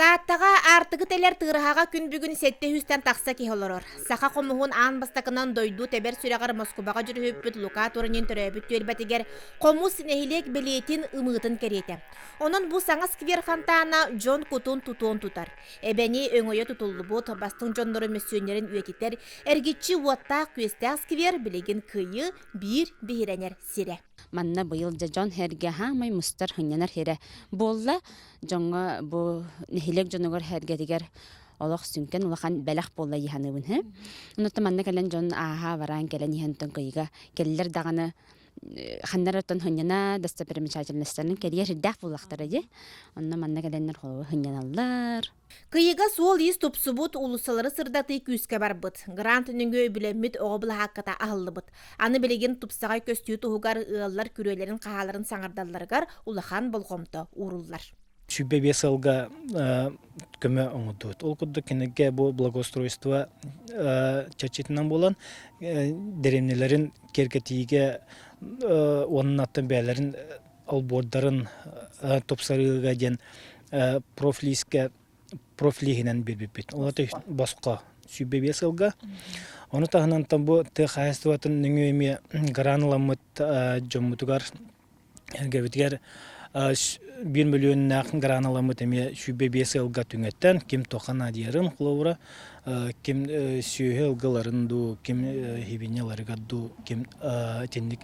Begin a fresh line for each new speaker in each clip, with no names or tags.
Тааттаҕа аартыгы тэлэр тыараһаҕа күн бүгүн сэттэ сүүстэн тахса киһи олорор. Саха хомуһун аан бастакынан дойду тэбэр сүрэҕэр Москубаҕа дьүрүһүппүт Лука Туранин төрөөбүт түөлбэтигэр хомус нэһилиэк бэлиэтин ымыытын кэриэтэ. Онон бу саҥа сквер фонтана дьон кутун тутуон тутар. Эбэни өҥөйө тутуллубут, бастыҥ дьоннору мөссүөннэрин үйэтитэр эргиччи уоттаах-күөстээх сквер билигин кыайыы биир биһирэнэр сирэ. Манна быйыл дьэ
дьон-сэргэ хаамай мустар, сынньанар сирэ буолла. дьоҥҥо бу нэһилиэк дьонугар сэргэтигэр олох сүҥкэн улахан бэлэх буолла дии саныыбын һэ онуттан манна кэлэн дьон ааһа бараан кэлэн иһэнтэн кыйга кэллэр даҕаны ханнар оттон хынньана достопримечательностьтарын кэрийэр сирдээх буоллахтара дии онно манна кэлэннэр холобур хынньаналлар Кыйыга
суол-иис тупсубут, уулуссалары сырдатыы күүскэ барбыт. Грант нөҥүө үбүлэммит оҕо былаһаакката аһыллыбыт. Аны билигин тупсаҕай көстүү туһугар ыаллар күрүөлэрин хаһааларын саҥардалларыгар улахан болҕомто ууруллар. Сүүрбэ биэс
сылга көмө оҥордубут. Ол курдук кинигэ бу благоустройство чэрчитинэн буолан дэриэбинэлэрин киэргэтиигэ уонна аттан бэйэлэрин олбуордарын тупсарыыга диэн профлиискэ профлииһинэн билбиппит. Ол босхо сүүрбэ сылга. Ону таһынан бу тыа хаһаайыстыбатын нөҥүө эмиэ грант ыламмыт дьоммутугар эргэбитигэр биир мөлүөннээх грант ыламмыт эмиэ сүүрбэ биэс сылга түҥэттэн ким туохха наадыйарын холобура ким сүөһү ылгыларын дуу, ким хибиньяларыгар дуу, ким итинник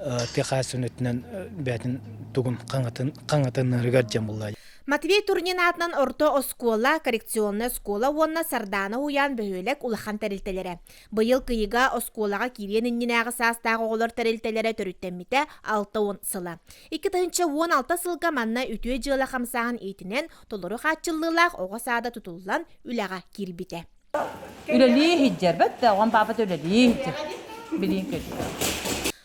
тыа хаһаайыстыбанньытынан бэйэтин тугун хаҥатын хаҥатыннарыгар дьон булла. Матвей Турнин
аатынан орто оскуола, коррекционная оскуола уонна Сардаана Уйаан бөһүөлэк улахан тэрилтэлэрэ. Быйыл кыйыга оскуолаҕа киириэн иннинээҕи саастаах оҕолор тэрилтэлэрэ төрүттэммитэ 6 уон сыла. 2 тыһыынча уон алта сылга манна үтүө дьыала хамсааһын иитинэн толору хааччыллыылаах оҕо саада тутуллан үлэҕэ киирбитэ. Үлэлии
иһдьэрбэт да, оҕом паапата үлэлии иһдьэр. Билиин кэлбитэ.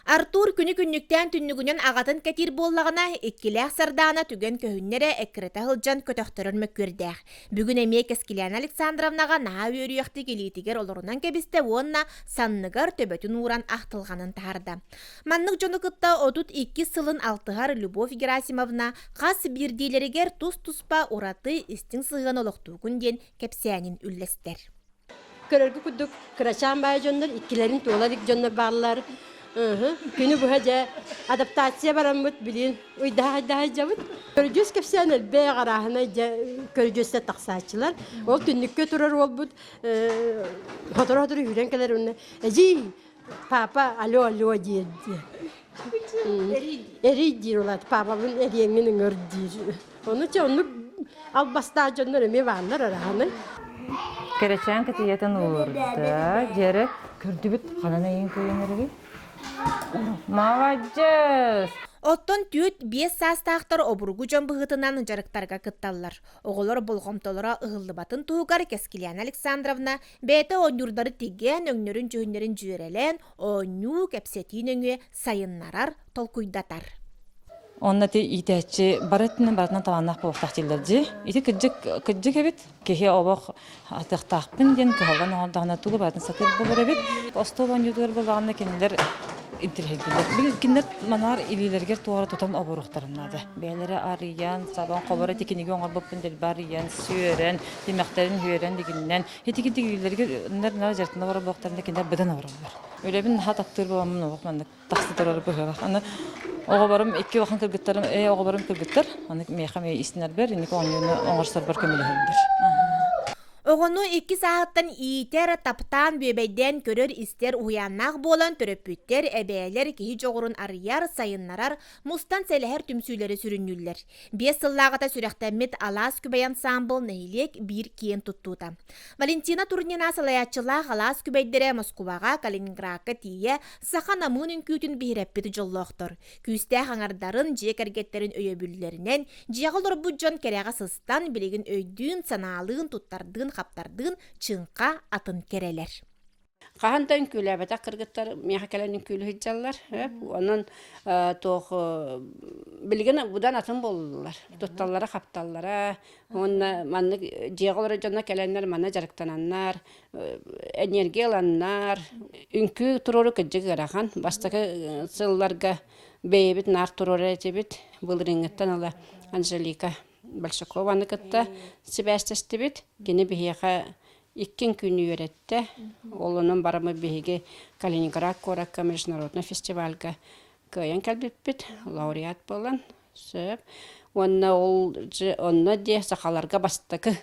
Артур
күнү-күннүктээн түннүгүнэн аҕатын кэтиир буоллаҕына, иккилээх Сардаана түгэн көһүннэрэ эккирэтэ сылдьан көтөхтөрөн мөккүөрдээх. Бүгүн эмиэ Кэскилээнэ Александровнаҕа наһаа үөрүйэхтик илиитигэр олорунан кэбистэ уонна санныгар төбөтүн ууран ахтылҕанын таһарда. Маннык дьону кытта отут иккис сылын алтыһар Любовь Герасимовна хас биирдиилэригэр тус-туспа ураты истиҥ сыһыан олохтуукун диэн кэпсээнин үллэстэр. Көрөргө
курдук, кырачаан баай дьоннор иккилэрин туола илик дьоннор бааллар. Күнү быһа дьэ адаптация бараммыт, билин уйдаһайдаһайдабыт. Көргүс кэпсээн элбэх арааһынай дьэ көргүстэ тахсааччылар. Ол түннүккэ турар уолбут хоторо-хоторо үүрэн кэлэр уонна «Эдьиий, Папа алло алло диир дии. Эрий диир улаат папабын эриэҥҥин ыҥыр диир. Ону че оннук албастаах дьоннор эмиэ бааллар араһаны. Кэрэчээн
кытыйатын уурда. Дьэрэ көрдүбүт ханан эйин көйөн эригин? Молодец! Оттон түүт
биэс саастаахтар обургу дьон быһыытынан дьарыктарга кытталлар. Оҕолор болҕомтолоро ыһыллыбатын туһугар Кэскилиана Александровна Бэйэтэ оонньуурдары тигэн, өҥнөрүн-дьүһүннэрин дьүөрэлээн, оонньуу, кэпсэтии нөҥүө сайыннарар, толкуйдатар. Онно
ити иитээччи бары өттүнэн барытынан талааннаах буолуохтаах дииллэр дии. Ити кырдьык кырдьык эбит. Киһи олох атыахтаахпын диэн кыһаллан оҥордоҕуна тугу барытын сатыыр буолар эбит. Остуол оонньуутугар буоллаҕына кинилэр интириэһиргииллэр. Били кинилэр манаар илиилэригэр туора тутан оборуохтарын наада. Бэйэлэрэ арыйан, сабан, холоро ити кинигэ оҥорбуппун дэлби арыйан, сүөрэн, Тимэхтэрин үөрэн дигиннэн, итигитигилэригэр дьертина боробуохтарына кинилэр быдан оҕороллор. Үлэбин наһаа таптыыр бабаммын оҕох маннык тахса турара быһыылаах. Аны оҕоборум икки улахан кыргыттарым ээ оҕоборум кыргыттар аны миэхэ миэ истинэрбэр инники оонньууну оҥорсорбор көмөлөһөллөр. Оҕону
икки сааһыттан иитэр, таптаан, бүөбэйдээн көрөр-истэр уһуйааннаах буолан төрөппүттэр, эбээлэр киһи дьоҕурун арыйар, сайыннарар, Мустан сэлэһэр түмсүүлэри сүрүннүүллэр. Биэс сыллааҕыта сүрэхтэммит Алаас күбэй ансаамбыл нэһилиэк биир киэн туттуута. Валентина Турнина салайааччылаах Алаас күбэйдэрэ Москубаҕа, Калининградка тиийэ саха намыын үҥкүүтүн биһирэппит дьоллоохтор. Күүстээх аҥардарын, дьиэ кэргэттэрин өйөбүллэринэн дьиэҕэ олорбут дьон кэрэҕэ сыстан, билигин өйдүүн, санаалыын, туттардыын-хаптардыын чыҥха атын кэрэлэр. хаһан да
үҥкүүлээбэтэх кыргыттар миэхэ кэлэн үҥкүүлүү сылдьаллар онон туох билигин будан атын буоллулар тутталлара хапталлара уонна маннык дьиэҕэ олорор дьоно кэлэннэр манна дьарыктананнар энергия ыланнар үҥкүү туруору кырдьык ыарахан бастакы сылларга бэйэбит наар туруорар этибит былырыыҥҥыттан ыла анжелика большакова кытта сибээстэстибит кини биһиэхэ Иккин күн үөрэттэ. Ол онон барамы биһиги Калининград куоракка международный фестивальга кыайан кэлбиппит, лауреат буолан сөп. Уонна ол же онно дьэ сахаларга бастакы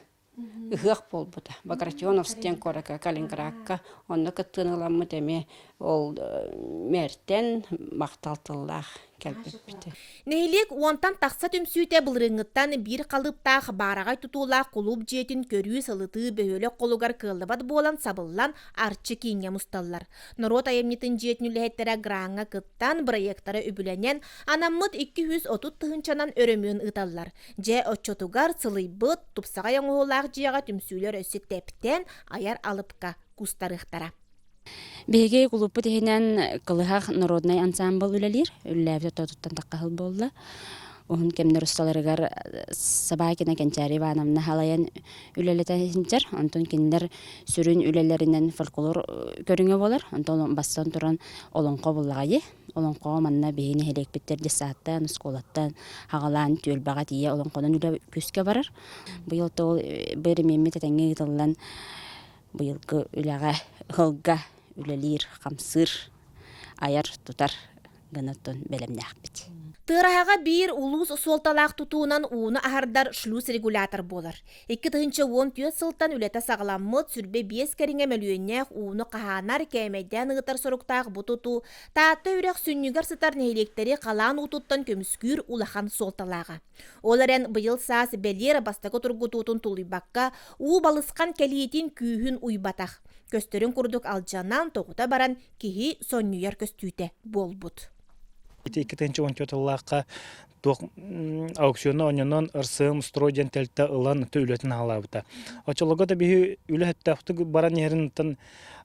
ыһыах буолбута. Багратионовск диэн куоракка Калининградка онно кыттыыны ыламмыт эмиэ ол э, мээртэн махтал тыллаах кэлбиппитэ нэһилиэк
уонтан тахса түмсүүтэ былырыыҥҥыттан биир халыыптаах баараҕай тутуулаах кулууп дьиэтин көрүү сылытыы бөһүөлэк холугар кыаллыбат буолан сабыллан арчы кииҥҥэ мусталлар норуот айымньытын дьиэтин үлэһиттэрэ граҥҥа кыттан бырайыактара үбүлэнэн анаммыт икки жүз отут тыһыынчанан өрөмүөн ыыталлар дьэ оччотугар сылыйбыт тупсаҕай оҥоһуулаах дьиэҕэ түмсүүлэр өссө тэптэн айар алыпка кустарыахтара
Биһиги кулууппут иһинэн Кылыһах норуодунай ансаамбыл үлэлиир. Үлэлээбит отоотуттан таххаһыл буолла. Уһун кэмнэр усталарыгар Собакина Кэнчээри Ивановна халайан үлэлэтэ иһинчэр. Онтон кинилэр сүрүн үлэлэринэн фольклор көрүҥэ буолар. Онтон бастан туран олоҥхо буллаҕайы. Олоҥхоҕо манна биһиги нэһилиэкпиттэр детсадтан, оскуолаттан Хаҕалаан түөлбэҕэ тиийэ олоҥхонон үлэ күүскэ барар. Быйыл тыл бырамиаммыт этэҥҥэ ыытыллан быйылгы үлэҕэ ылга үлэлиир хамсыыр айар тутар гынытын бэлэмнээхпит тыараһаҕа биир
улуус суолталаах тутуунан ууну аһардар шлюз регулятор буолар икки тыһыынча уон түөрт сылтан үлэтэ саҕаламмыт сүрбэ биэс кэриҥэ мөлүйүөннээх ууну хаһаанар кээмэйдээн ыытар соруктаах бу тутуу таатта үрэх сүнньүгэр сытар нэһилиэктэри халаан уутуттан көмүскүүр улахан суолталааҕа Ол эрэн быйыл саас бэлиэр бастакы тургутуутун тулуйбакка, уу балысхан кэлиитин күүһүн уйбатах. Көстөрүн курдук алдьанан, тоҕута баран киһи сонньуйар көстүүтэ буолбут. Ити икки тыһынча он төрт ыллаахха
туох аукциону онньонон РСМ «Строй» диэн тэлтэ ылан үлэтин аһалаабыта. Оччолорго да биһи үлэ өттө баран иһэринтэн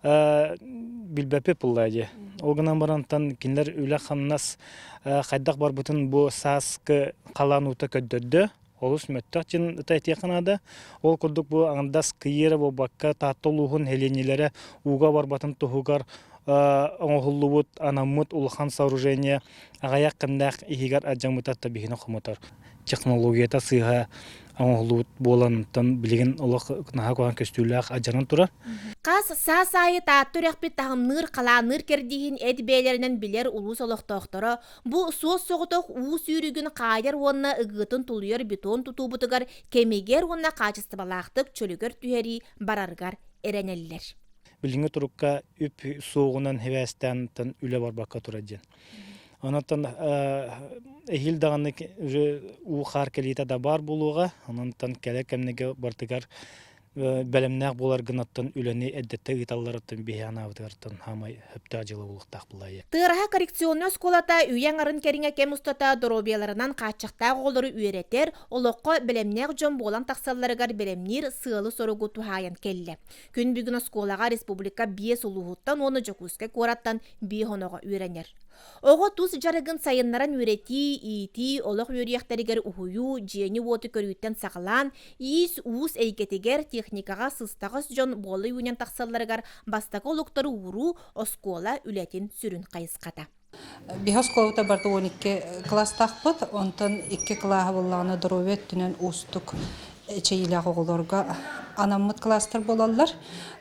билбэппи пылла дии ол гынан барантан кинилэр үлэ хамнас хайдах барбытын бу сааскы халаан уута көрдөрдө олус мөттөх дин ыта этиэхэ наада ол курдук бу аңдас кыйыра буолбакка таатта улууһун хелиэнилэрэ ууга барбатын туһугар оңоһуллубут анаммыт улахан сооружение аҕаяк кэмнээх иһигэр адьамыта табиһини хомотор технологията сыыһа оҥоһуллубут буоланыттан билигин олох наһаа куһаҕан көстүүлээх адьанан турар. Хас саас
аайы Таатта үрэхпит таһымныыр халаанныыр кэрдииһин эт бэйэлэринэн билэр улуус олохтоохторо бу суос соҕотох уу сүүрүгүн хаайар уонна ыгыытын тулуйар бетон тутуубутугар кэмигэр уонна хаачыстыбалаахтык чөлүгэр түһэрии барарыгар эрэнэллэр. Билиҥҥи турукка
үп суоҕунан хибээстээнтэн үлэ барбакка турар диэн. Онон эһиил даҕаны уже уу хаар кэлиитэ да баар буолуоҕа. Онон кэлэр кэмнэргэ бартыгар бэлэмнээх буоларгынаттан үлэни эрдэтте ыыталларыттан биһи анаабытыгартан хаамай хөптөөх дьыла буолуохтаах булайы. Тыараһа коррекционный
оскуолата үйэ аңарын кэриҥэ кэм устата доруобуйаларынан хааччахтаах оҕолору үөрэтэр, олоххо бэлэмнээх дьон буолан тахсалларыгар бэлэмниир сыалы-соругу туһаайан кэллэ. Күн бүгүн оскуолаҕа республика биэс улууһуттан уонна Дьокуускай куораттан биир хоноҕо үөрэнэр. Оҕо тус дьарыгын сайыннаран үөрэтии, иитии, олох үөрүйэхтэригэр уһуйуу, дьиэни-уоту көрүүттэн саҕалаан, иис-уус эйгэтигэр, техникаҕа сыстаҕас дьон буола үүнэн тахсалларыгар бастакы олуктары ууруу оскуола үлэтин сүрүн хайысхата. Биһи
оскуолабыта барыта он икки кылаастаахпыт, онтон икки кылааһы буллаҕына доруобуйа өттүнэн уустук эчэйиилээх оҕолорго анаммыт кылаастар буолаллар.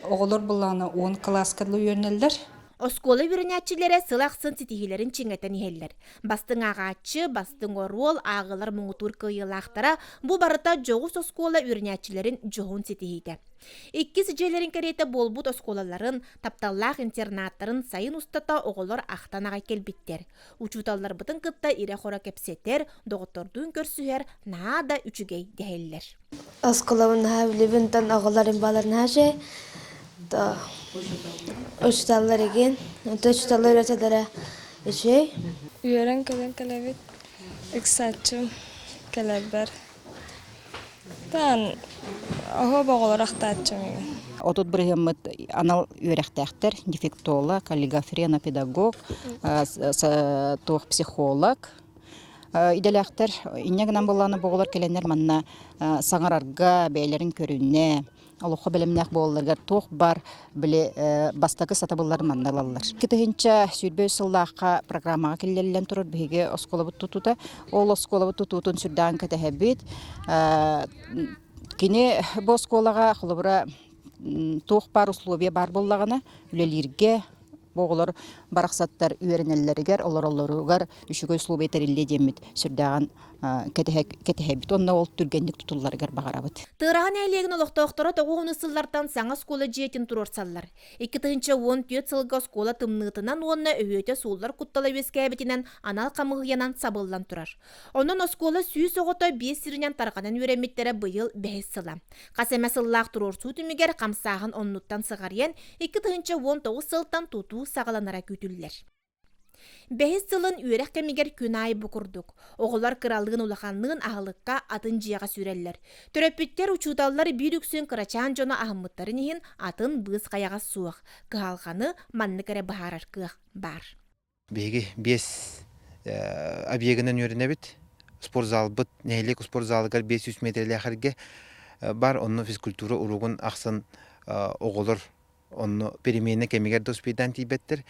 Оҕолор буллаҕына он кылааска дылы үөрэнэллэр. Оскуола
үөрэнээччилэрэ сыл ахсын ситиһиилэрин чиҥэтэн иһэллэр. Бастыҥ ааҕааччы, бастыҥ оруол, ааҕыылар муҥутуур кыайыылаахтара бу барыта дьоҕус оскуола үөрэнээччилэрин дьоһун ситиһиитэ. Иккис дьиэлэрин кэриэтэ буолбут оскуолаларын, Тапталлаах интернаттарын сайын устата оҕолор ахтан аҕай кэлбиттэр. Учууталларбытын кытта ирэ-хоро кэпсэтэр, доҕоттордуун көрсүһэр наһаа да үчүгэй дэһэллэр. Осколабын
наһаа билибин тан оҕолорум балар наһаа же учууталлар игин учууталлар үйрөтөлөрө үчүгэй. Үөрэн
кэлэн кэлэбит ыксааччым кэлэрбэр Отут
бырыһыммыт анал үөрэхтээхтэр, дефектолог, каллигофренопедагог, туох психолог. Идэлээхтэр инньэ гынан буоллааны боҕулар кэлэннэр манна саҥарарга, бэйэлэрин көрүннэ,
олоххо бэлэмнээх буолалларыгар туох бар били бастакы сатабылларын манна ылаллар. Икки тыһынча сүүрбэ сыллаахха программаҕа киллэриллэн турар биһиги оскуолабыт тутуута. Ол оскуолабыт тутуутун сүрдээх кэтэһэбит. Кини бу оскуолаҕа холобура туох баар условия баар буоллаҕына үлэлииргэ Бу оҕолор барахсаттар үөрэнэллэригэр, олороллоругар үчүгэй условия тэриллиэ диэммит сүрдээҕин кэтэһэбит уонна ол түргэнник тутулларыгар баҕарабыт. Тыараһа нэһилиэгин
олохтоохторо тоҕу уонус сыллартан саҥа оскуола дьиэтин туруорсаллар. Икки тыһыынча уон түөрт сылга оскуола тымныытынан уонна өһүөтэ сууллар куттала үөскээбитинэн анал хамыыһыйанан сабыллан турар. Онон оскуола сүүс оҕото биэс сиринэн тарҕанан үөрэммиттэрэ быйыл бэһис сыла. Хас эмэ сыллаах туруорсуу түмүгэр хамсааһын оннуттан сыҕарыйан, икки тыһыынча уон тоҕус сылтан тутуу саҕаланара күүтүллэр. Бэһис сылын үөрэх кэмигэр күн аайы бу курдук. Оҕолор кыралыын-улаханныын аһылыкка атын дьиэҕэ сүрэллэр. Төрөппүттэр, учууталлар биир үксүн кырачаан дьоно аһыммыттарын иһин атын быыс хайаҕас суох. Кыһалҕаны маннык эрэ быһаарар кыах баар. Биһиги
биэс объегынан үөрэнэбит. Спортзалбыт, нэһилиэк спортзалыгар биэс сүүс миэтэрэлээх эргэ бар. Онно физкультура уруогун ахсын оҕолор онно переменэ кэмигэр да успейдаан тиийбэттэр.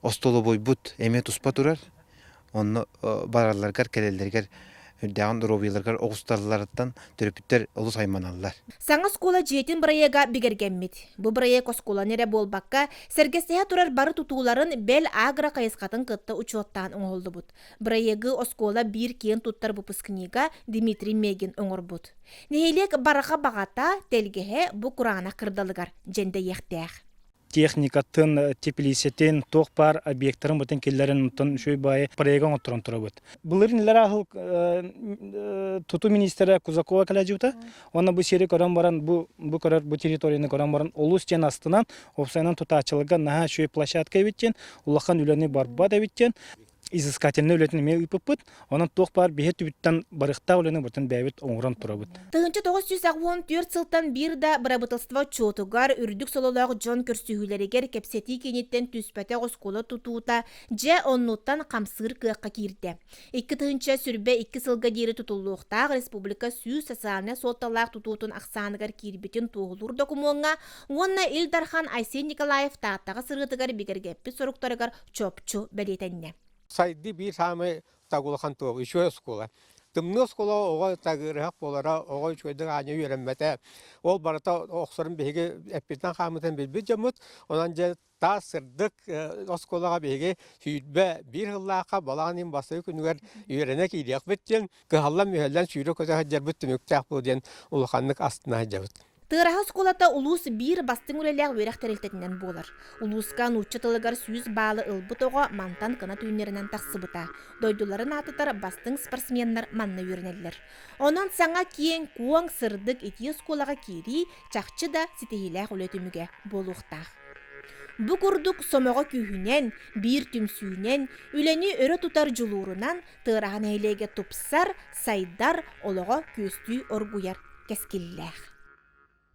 Остолобуйбут эмиэ туспа турар. Онно баралларыгар, кэлэллэригэр үрдээҕин доруобуйаларыгар оҕустарылларыттан төрөппүттэр олус айманаллар. Саҥа оскуола
дьиэтин бырайыага бигэргэммит. Бу бырайыак оскуоланы эрэ буолбакка, сэргэстэһэ турар бары тутууларын бэл агро-хайысхатын кытта учуоттаан оҥоһуллубут. Бырайыагы оскуола биир киэн туттар выпускнига Дмитрий Мегин оҥорбут. Нэһилиэк барҕа баҕата, тэлгэһэ бу кураанах кырдалыгар дьэндэйиэхтээх. техникатын,
теплицэтин, туох баар объектарын бытын киллэрин оттон үчүгэй баайы проекка оҥотторон турабыт. Былырын илэрэ аһыл туту министерэ Кузакова кэлэдьибита. Онно бу сири көрөн баран бу бу көрөр бу территорияны көрөн баран олус диэн астынан, опсайынан тутаачыларга наһаа үчүгэй площадка эбиттен, улахан үлэни барбат эбиттен изыскательнай үлэтин эмиэ ыыппыппыт. Онон туох баар биһи өттүбүттэн барыахтаах үлэни бытын бэйэбит оҥорон турабыт. Тыһыынча тоҕус сүүс агонтүөрт
сылтан биир да бырабыталыстыба отчуотугар, үрдүк сололоох дьон көрсүһүүлэригэр кэпсэтии кииниттэн түспэтэх оскуола тутуута дьэ оннуттан хамсыыр кыахха киирдэ. Икки тыһыынча сүрбэ икки сылга диэри тутуллуохтаах республика сүүс социальнай суолталаах тутуутун ахсааныгар киирбитин туоһулуур докумуоҥҥа уонна Ил Дархан Айсен Николаев Тааттаҕа сырыытыгар бигэргэппит соруктарыгар чопчу бэлиэтэннэ. Сайды биир
саамай тагулахан туох, үчүгэй оскуола. Тымныы оскуола оҕо тагырыһах буолара, оҕо үчүгэйдик аанньа үөрэммэтэ. Ол барыта охсорун биһиги эппитинэн хааммытын билбит дьоммут. Онон дьэ таас сырдык оскуолаҕа биһиги сүүрбэ биир сыллаахха балаҕан ыйын бастакы күнүгэр үөрэнэ киириэхпит диэн кыһаллан мүһэллэн сүүрэ көтө сылдьарбыт түмүктээх буолуо диэн улаханнык астына сылдьабыт. Тыараһа оскуолата
улуус биир бастыҥ үлэлээх үөрэх тэрилтэтинэн буолар. Улууска нуучча тылыгар сүүс баалы ылбыт оҕо мантан кынат үүннэринэн тахсыбыта. Дойдуларын аатытар бастыҥ спортсменнар манна үөрэнэллэр. Онон саҥа киэҥ, куоҥ, сырдык итии оскуолаҕа киирии чахчы да ситиһиилээх үлэ түмүгэ буолуохтаах. Бу курдук сомоҕо күүһүнэн, биир түмсүүнэн, үлэни өрө тутар дьулуурунан Тыараһа нэһилиэгэ тупсар, сайдар, олоҕо күөстүү оргуйар кэскиллээх.